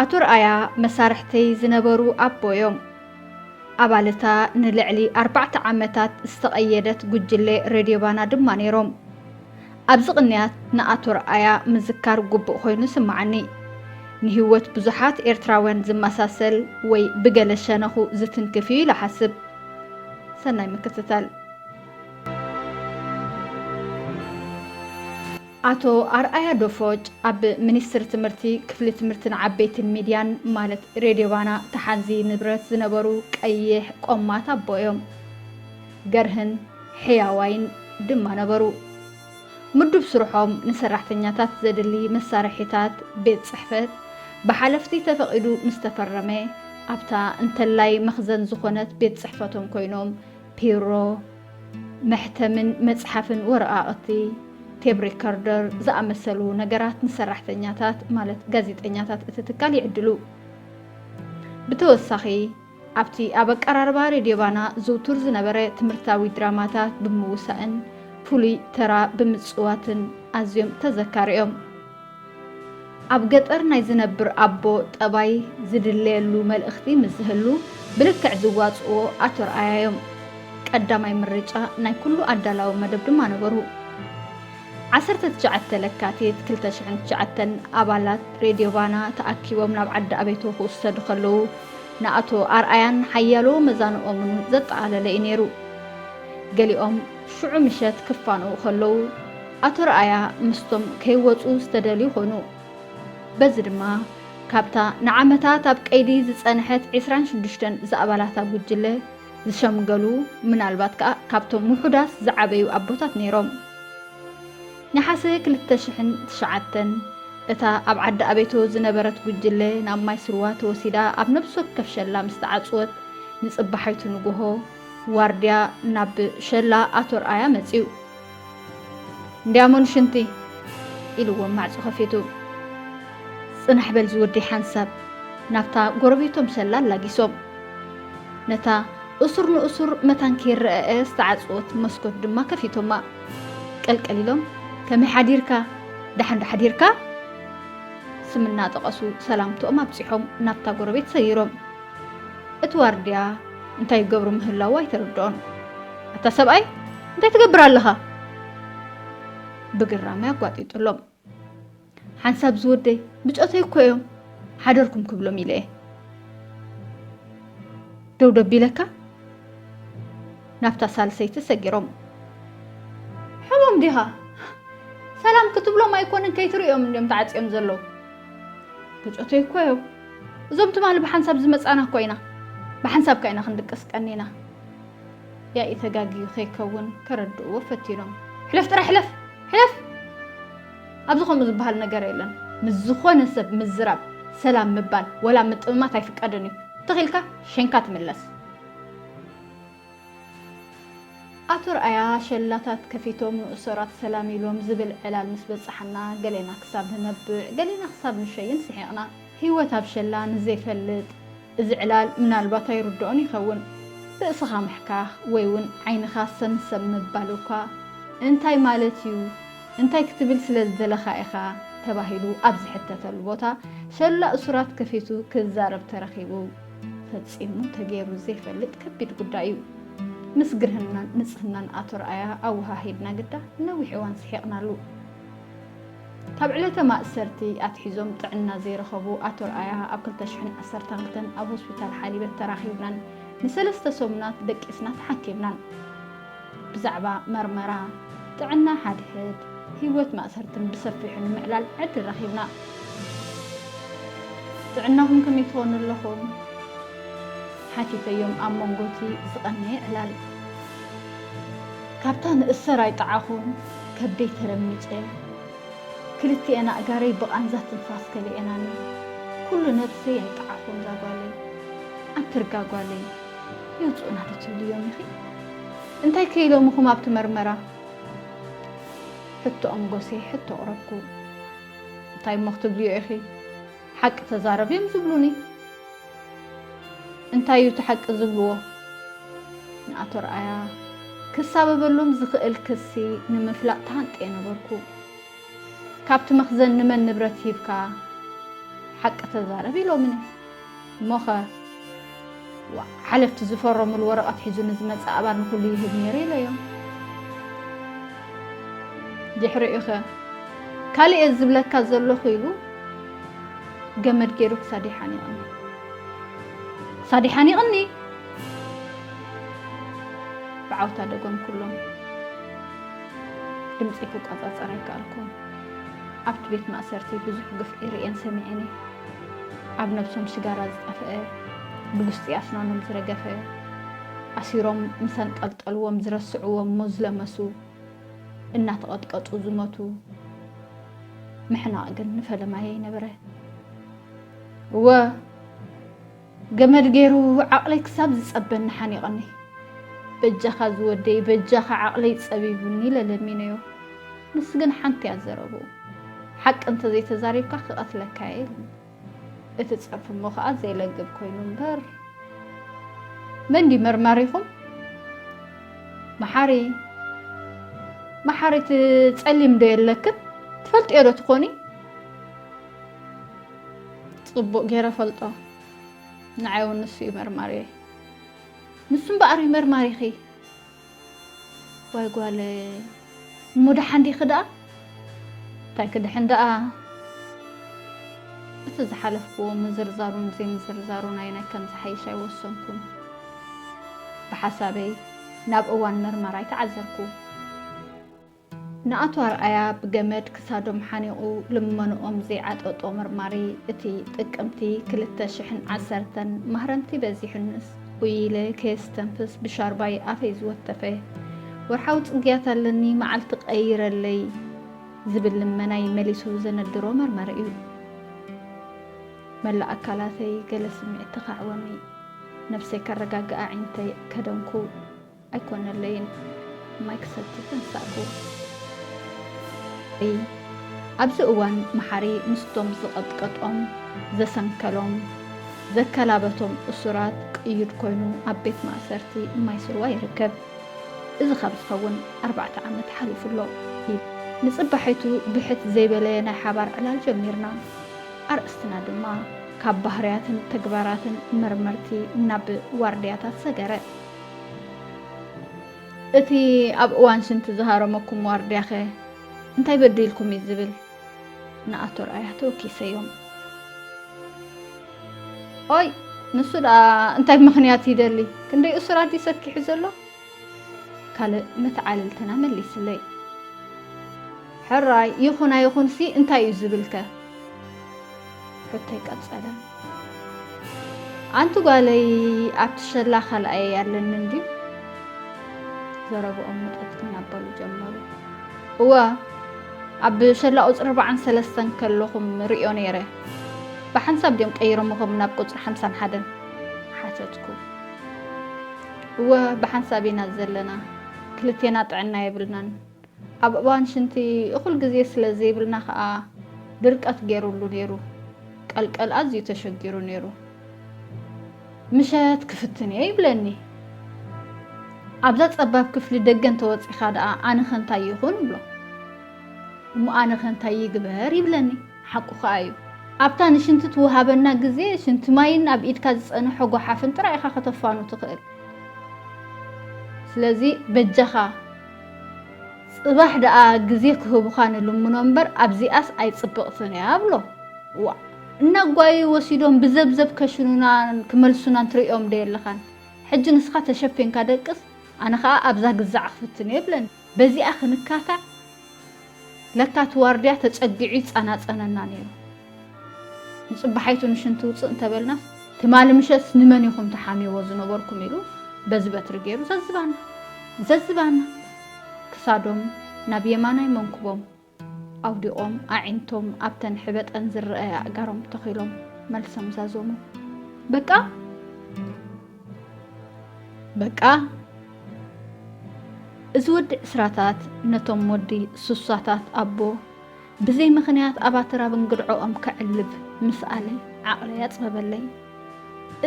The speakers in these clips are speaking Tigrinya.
ኣቶ ርኣያ መሳርሕተይ ዝነበሩ ኣቦዮም ኣባልታ ንልዕሊ ኣርባዕተ ዓመታት ዝተቐየደት ጉጅለ ሬድዮ ባና ድማ ነይሮም። ኣብዚ ቅንያት ንኣቶ ኣርኣያ ምዝካር ጉቡእ ኮይኑ ይስማዓኒ። ንሂወት ብዙሓት ኤርትራውያን ዝመሳሰል ወይ ብገለ ሸነኹ ዝትንክፍ እዩ ኢለ እሓስብ። ሰናይ ምክትታል። ኣቶ ኣርኣያ ዶፎጭ ኣብ ሚኒስትሪ ትምህርቲ ክፍሊ ትምህርቲ ንዓበይቲን ሚድያን ማለት ሬድዮ ባና ተሓዚ ንብረት ዝነበሩ ቀይሕ ቆማት ኣቦ እዮም። ገርህን ሕያዋይን ድማ ነበሩ። ምዱብ ስርሖም ንሰራሕተኛታት ዘድሊ መሳርሒታት ቤት ጽሕፈት ብሓለፍቲ ተፈቒዱ ምስ ተፈረመ፣ ኣብታ እንተላይ መኽዘን ዝዀነት ቤት ጽሕፈቶም ኰይኖም ፒሮ፣ መሕተምን መጽሓፍን ወረቓቕቲ፣ ቴብ ሪከርደር ዝኣመሰሉ ነገራት ንሰራሕተኛታት ማለት ጋዜጠኛታት እቲ ትካል ይዕድሉ። ብተወሳኺ፣ ኣብቲ ኣብ ኣቀራርባ ሬድዮ ባና ዝውቱር ዝነበረ ትምህርታዊ ድራማታት ብምውሳእን ፍሉይ ተራ ብምጽዋትን ኣዝዮም ተዘካሪ እዮም። ኣብ ገጠር ናይ ዝነብር ኣቦ ጠባይ ዝድለየሉ መልእኽቲ ምስ ዝህሉ ብልክዕ ዝዋጽእዎ ኣቶ ርኣያ እዮም። ቀዳማይ ምርጫ ናይ ኩሉ ኣዳላዊ መደብ ድማ ነበሩ። ዓሰርተ ትሽዓተ ለካቲት ክልተ ሽሕን ትሽዓተን ኣባላት ሬድዮ ባና ተኣኪቦም ናብ ዓዲ ኣቤቶ ክውሰዱ ከለዉ ንኣቶ ኣርኣያን ሓያሎ መዛንኦምን ዘጠቓለለ እዩ ነይሩ። ገሊኦም ሽዑ ምሸት ክፋነዉ ከለዉ ኣቶ ርኣያ ምስቶም ከይወጹ ዝተደልዩ ኮኑ። በዚ ድማ ካብታ ንዓመታት ኣብ ቀይዲ ዝጸንሐት ዕስራን ሽዱሽተን ዝኣባላታ ጉጅለ ዝሸምገሉ ምናልባት ከኣ ካብቶም ውሑዳት ዝዓበዩ ኣቦታት ነይሮም። ነሓሰ ክልተ ሽሕን ትሽዓተን እታ ኣብ ዓዲ ኣቤቶ ዝነበረት ጉጅለ ናብ ማይስርዋ ተወሲዳ ኣብ ነብሲ ወከፍ ሸላ ምስ ተዓጽወት ንጽባሒቱ ንጉሆ ዋርድያ ናብ ሸላ ኣቶ ኣርኣያ መጺኡ። እንዲያሞን ሽንቲ ኢልዎም ማዕጾ ከፊቱ። ጽናሕ በል ዝወዲ ሓንሳብ ናብታ ጎረቤቶም ሰላ ኣላጊሶም ነታ እሱር ንእሱር መታን ከይረኣኣ ዝተዓጽወት መስኮት ድማ ከፊቶማ። ቀልቀል ኢሎም ከመይ ሓዲርካ ደሓን ዶ ሓዲርካ ስም እናጠቐሱ ሰላምትኦም ኣብጺሖም ናብታ ጎረቤት ሰጊሮም። እቲ ዋርድያ እንታይ ይገብሩ ምህላዉ ኣይተረድኦን። ኣታ ሰብኣይ እንታይ ትገብር ኣለኻ? ብግራመ ኣጓጢጡሎም። ሓንሳብ ዝወደይ ብጾተይ እኮ እዮም ሓደርኩም ክብሎም ኢለ እየ ደው ደቢለካ ናብታ ሳልሰይቲ ሰጊሮም ሕሞም ዲኻ ሰላም ክትብሎም ኣይኮንን ከይትርእዮም እንዲዮም ተዓፅዮም ዘለዉ ብጾተይ እኮ እዮም እዞም ትማሊ ብሓንሳብ ዝመጻና እኮ ኢና ብሓንሳብካ ኢና ክንድቅስ ቀኒና። ያኢ ተጋግዩ ከይከውን ከረድእዎ ፈቲኖም ሕለፍ ጥራይ ሕለፍ ሕለፍ ኣብዚ ከምኡ ዝበሃል ነገር የለን ምስ ዝኾነ ሰብ ምዝራብ ሰላም ምባል ወላ ምጥምማት ኣይፍቀድን እዩ እንተኺኢልካ ሸንካ ትምለስ። ኣቶ ኣርኣያ ሸላታት ከፊቶም ንእሶራት ሰላም ኢሎም ዝብል ዕላል ምስ በጸሓና ገሌና ክሳብ ንነብዕ ገሌና ክሳብ ንሸይን ስሒቕና። ህይወት ኣብ ሸላ ንዘይፈልጥ እዚ ዕላል ምናልባት ኣይርድኦን ይኸውን። ርእስኻ ምሕካኽ ወይ'ውን ዓይንኻ ሰምሰም ምባል እኳ እንታይ ማለት'ዩ? እንታይ ክትብል ስለ ዝደለኻ ኢኻ? ተባሂሉ ኣብ ዝሕተተሉ ቦታ ሸላ እሱራት ከፊቱ ክዛረብ ተረኺቡ። ፈጺሙ ተገይሩ ዘይፈልጥ ከቢድ ጉዳይ እዩ። ምስ ግርህናን ንጽህናን ኣቶ ርኣያ ኣወሃሂድና ግዳ ነዊሕ እዋን ስሒቕናሉ። ካብ ዕለተ ማእሰርቲ ኣትሒዞም ጥዕና ዘይረኸቡ ኣቶ ርኣያ ኣብ ክልተ ሽሕን ዓሰርተ ክልተን ኣብ ሆስፒታል ሓሊበት ተራኺብናን ንሰለስተ ሰሙናት ደቂስና ተሓኪምናን። ብዛዕባ መርመራ ጥዕና ሓድሕድ ህይወት ማእሰርትን ብሰፊሑ ንምዕላል ዕድል ረኺብና። ጥዕናኹም ከመይ ትኾኑ ኣለኹም? ሓቲተዮም ኣብ መንጎ'ቲ ዝቐነየ ዕላል። ካብታ ንእሰር ኣይጠዓኹን ከብደይ ተረሚጸ። ክልቲኤን ኣእጋረይ ብቓንዛ ትንፋስ ከሊኤናኒ። ኩሉ ነብሰይ ኣይጠዓኹን እዛ ጓለይ። ኣንትርጋ ጓለይ! የውፅኡና ዶ ትብልዮም ኢኺ? እንታይ ከ ኢሎምኹም ኣብቲ መርመራ? ሕቶኦም ጎስየ ሕቶ ኣቕረብኩ። እንታይ እሞ ክትብልዮ ኢኺ? ሓቂ ተዛረቢ እዮም ዝብሉኒ። እንታይ እዩ እቲ ሓቂ ዝብልዎ? ንኣቶ ርኣያ ክሳበበሎም ዝኽእል ክሲ ንምፍላጥ ተሃንጥየ ነበርኩ። ካብቲ መኽዘን ንመን ንብረት ሂብካ ሓቂ ተዛረብ ኢሎምኒ። እሞኸ ሓለፍቲ ዝፈረሙሉ ወረቐት ሒዙ ንዝመፅእ ኣባል ንኹሉ ይህብ ነይሩ ኢለዮም። ድሕሪኡኸ ካልእ እየ ዝብለካ ዘለኹ ኢሉ ገመድ ገይሩ ክሳድ ይሓኒቕኒ ክሳድ ይሓኒቕኒ ብዓውታ ደገምኩሎም። ድምፂ ክቆፃፀር ኣይከኣልኩን። ኣብቲ ቤት ማእሰርቲ ብዙሕ ግፍዒ ርእየን ሰሚዐን እየ። ኣብ ነብሶም ሽጋራ ዝጠፍአ ብጉስጢ ኣስናኖም ዝረገፈ ኣሲሮም ምስ ኣንጠልጠልዎም ዝረስዕዎም ሞዝለመሱ እናተቐጥቀጡ ዝሞቱ ምሕናቕ ግን ንፈለማ የይነበረ እወ ገመድ ገይሩ ዓቕለይ ክሳብ ዝጸበኒ ሓኒቐኒ። በጃኻ ዝወደይ በጃኻ ዓቕለይ ጸቢቡኒ ኢለ ለሚነዮ። ንሱ ግን ሓንቲ እያ ዘረብኡ። ሓቂ እንተ ዘይተዛሪብካ ክቐትለካ እየ ኢሉኒ። እቲ ጸርፊ እሞ ከኣ ዜለግብ ኮይኑ እምበር። መን ድዩ መርማሪኹም? መሓሪ። መሓሪ እቲ ጸሊም ዶ የለክን? ትፈልጥዮ ዶ ትኾኒ? ጽቡቅ ጌረ እፈልጦ ንዓይ ውን ንሱ እዩ መርማሪየይ ንሱ እምበኣር እዩ መርማሪኺ ዋይ ጓለይ እሞ ደሓን ዲኺ ደኣ እንታይ ክድሕን ደኣ እቲ ዝሓለፍክዎ ምዝርዛሩን ዘይምዝርዛሩን ኣየናይ ከም ዝሓይሽ ኣይወሰንኩን ብሓሳበይ ናብ እዋን መርመራይ ተዓዘርኩ ንኣቶ ኣርኣያ ብገመድ ክሳዶም ሓኒቑ ልመንኦም ዘይዓጠጦ መርማሪ እቲ ጥቅምቲ ክልተ ሽሕን ዓሰርተን ማህረምቲ በዚሑንስ ኡይ ኢለ ከየስተንፍስ ብሻርባይ ኣፈይ ዝወተፈ ወርሓዊ ፅግያት ኣለኒ መዓልቲ ቀይረለይ ዝብል ልመናይ መሊሱ ዘነድሮ መርመሪ እዩ። መላእ ኣካላተይ ገለ ስምዒት ተኻዕወኒ። ነብሰይ ከረጋግእ ኣዒንተይ ከደንኩ። ኣይኮነለይን ማይ ክሰቲ ተንሳእኩ። እይ ኣብዚ እዋን መሓሪ ምስቶም ዝቐጥቀጦም፣ ዘሰንከሎም፣ ዘከላበቶም እሱራት ቅዩድ ኮይኑ ኣብ ቤት ማእሰርቲ ማይ ስርዋ ይርከብ። እዚ ካብ ዝኸውን ኣርባዕተ ዓመት ሓሊፉ ኣሎ። እይ ንጽባሒቱ ብሕት ዘይበለየ ናይ ሓባር ዕላል ጀሚርና። ኣርእስትና ድማ ካብ ባህርያትን ተግባራትን መርመርቲ ናብ ዋርድያታት ሰገረ። እቲ ኣብ እዋን ሽንቲ ዝሃረመኩም ዋርድያኸ እንታይ በዲልኩም እዩ ዝብል ንኣቶ ርኣያ ተወኪሰዮም። ኦይ ንሱ ደኣ እንታይ ምኽንያት ይደሊ ክንደይ እሱራት እዩ ሰኪሑ ዘሎ ካልእ መተዓልልትና መሊስለይ። ሕራይ ይኹን ኣይኹንሲ እንታይ እዩ ዝብልከ ሕቶይ ቀጸለ። ኣንቲ ጓለይ ኣብቲ ሸላ ካልኣየይ ኣለኒ እንድዩ? ዘረብኦም ምጠት ክናበሉ ጀመሩ። እወ ኣብ ሸላ ቁጽሪ ኣርባዓን ሰለስተን ከለኹም ርእዮ ነይረ። ብሓንሳብ ድዮም ቀይሮምኹም ናብ ቁጽሪ ሓምሳን ሓደን? ሓተትኩ። እወ ብሓንሳብ ኢና ዘለና፣ ክልቴና ጥዕና የብልናን። ኣብ እዋን ሽንቲ እኹል ግዜ ስለ ዘይብልና ከኣ ድርቀት ገይሩሉ ነይሩ። ቀልቀል ኣዝዩ ተሸጊሩ ነይሩ። ምሸት ክፍትን እየ ይብለኒ። ኣብዛ ጸባብ ክፍሊ ደገ እንተወጺኻ ደኣ ኣነኸ እንታይ ይኹን እብሎ። እሞ ኣነኸ እንታይ ይግበር ይብለኒ። ሓቁ ከኣ እዩ። ኣብታ ንሽንቲ ትወሃበና ግዜ ሽንቲ ማይን ኣብ ኢድካ ዝጸንሖ ጎሓፍን ጥራይ ኢኻ ከተፋኑ ትኽእል። ስለዚ በጃኻ ጽባሕ ደኣ ግዜ ክህቡኻ ንልምኖ እምበር ኣብዚኣስ ኣይጽብቕትን እያ ብሎ። ዋእ! እናጓየዩ ወሲዶም ብዘብዘብ ከሽኑናን ክመልሱናን ትርእዮም ዶ የለኻን? ሕጂ ንስኻ ተሸፊንካ ደቅስ ኣነ ከኣ ኣብዛ ግዛዕ ክፍትን እየ ብለን በዚኣ ክንካታዕ። ለካ እቲ ዋርድያ ተጸጊዑ ይጸናጸነና ነይሩ። ንጽባሓይቱ ንሽንቲ ውጽእ እንተበልናስ፣ ትማሊ ምሸት ንመን ኢኹም ትሓምይዎ ዝነበርኩም ኢሉ በዚ በትሪ ገይሩ ዘዝባና ዘዝባና ክሳዶም ናብ የማናይ መንኩቦም ኣውዲቖም ኣዒንቶም ኣብተን ሕበጠን ዝረኣያ ኣእጋሮም ተኺሎም መልሶም ዛዘሙ። በቃ! በቃ! እዚ ወዲ ዕስራታት ነቶም ወዲ ሱሳታት ኣቦ ብዘይ ምኽንያት ኣብ ኣትራብ እንግድዖኦም ከዕልብ ምስኣለ ዓቕለይ ኣጽበበለይ።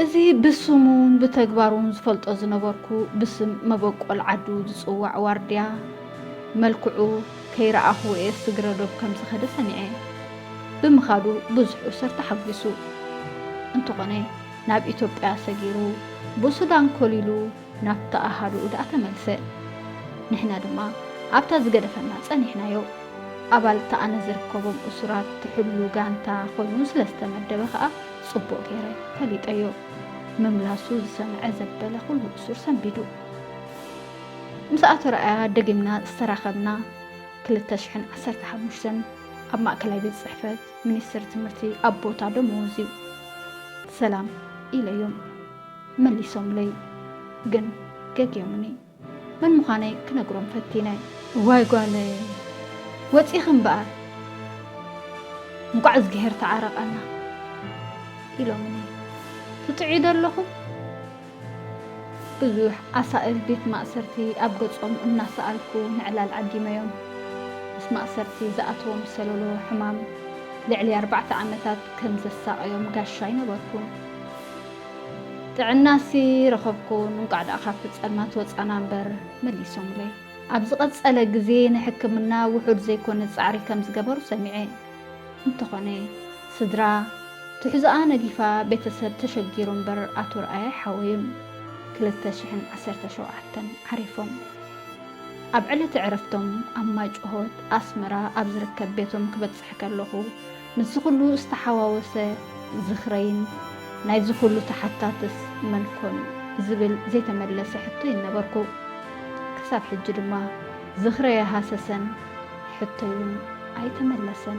እዚ ብስሙን ብተግባሩን ዝፈልጦ ዝነበርኩ ብስም መበቆል ዓዱ ዝጽዋዕ ዋርድያ መልክዑ ከይረኣኹዎ'የ ስግረ ዶብ ከም ዝኸደ ሰሚዐ። ብምኻዱ ብዙሕ እሱር ተሓጒሱ። እንተኾነ ናብ ኢትዮጵያ ሰጊሩ ብሱዳን ኮሊሉ ናብታ ኣሃዱኡ ደኣ ተመልሰ። ንሕና ድማ ኣብታ ዝገደፈና ጸኒሕናዮ። ኣባል እታ ኣነ ዝርከቦም እሱራት ትሕሉ ጋንታ ኮይኑ ስለ ዝተመደበ ከኣ ጽቡቕ ገይረ ፈሊጠዮ። ምምላሱ ዝሰምዐ ዘበለ ኩሉ እሱር ሰንቢዱ። ምስ ኣቶ ርኣያ ደጊምና ዝተራኸብና ክልተ ሽሕን ዓሰርተ ሓሙሽተን ኣብ ማእከላይ ቤት ጽሕፈት ሚኒስትሪ ትምህርቲ ኣብ ቦታ ደመወዙ። ሰላም ኢለዮም። መሊሶምለይ ግን ገግዮምኒ መን ምዃነይ ክነግሮም ፈቲነ። እዋይ ጓለይ ወጺኺ እምበኣር እንቋዕ እዝግሄር ተዓረቐና ኢሎምኒ። ትጥዕዩ ዶ ኣለኹም? ብዙሕ ኣሳእል ቤት ማእሰርቲ ኣብ ገጾም እናሰኣልኩ ንዕላል ዓዲመዮም። ምስ ማእሰርቲ ዝኣተዎም ሰሎሎ ሕማም ልዕሊ ኣርባዕተ ዓመታት ከም ዘሳቐዮም ጋሻይ ነበርኩ። ጥዕናሲ ረኸብኩ እንቋዕ ደኣ ካብቲ ጸልማት ወጻና እምበር መሊሶምለይ። ኣብ ዝቐጸለ ግዜ ንሕክምና ውሑድ ዘይኮነ ጻዕሪ ከም ዝገበሩ ሰሚዐ። እንተኾነ ስድራ ትሕዝኣ ነጊፋ ቤተሰብ ተሸጊሩ እምበር ኣቶ ርኣይ ኣይሓወዩን። ክልተ ሽሕን ዓሰርተ ሸውዓተን ዓሪፎም። ኣብ ዕለተ ዕረፍቶም ኣብ ማይጭሆት፣ ኣስመራ፣ ኣብ ዝርከብ ቤቶም ክበጽሕ ከለኹ፣ ምስዚ ኩሉ ዝተሓዋወሰ ዝኽረይን ናይዚ ኩሉ ተሓታትስ መን ኮን ዝብል ዘይተመለሰ ሕቶይን ነበርኩ። ክሳብ ሕጂ ድማ ዝኽረይ ኣይሃሰሰን ሕቶይ ውን ኣይተመለሰን።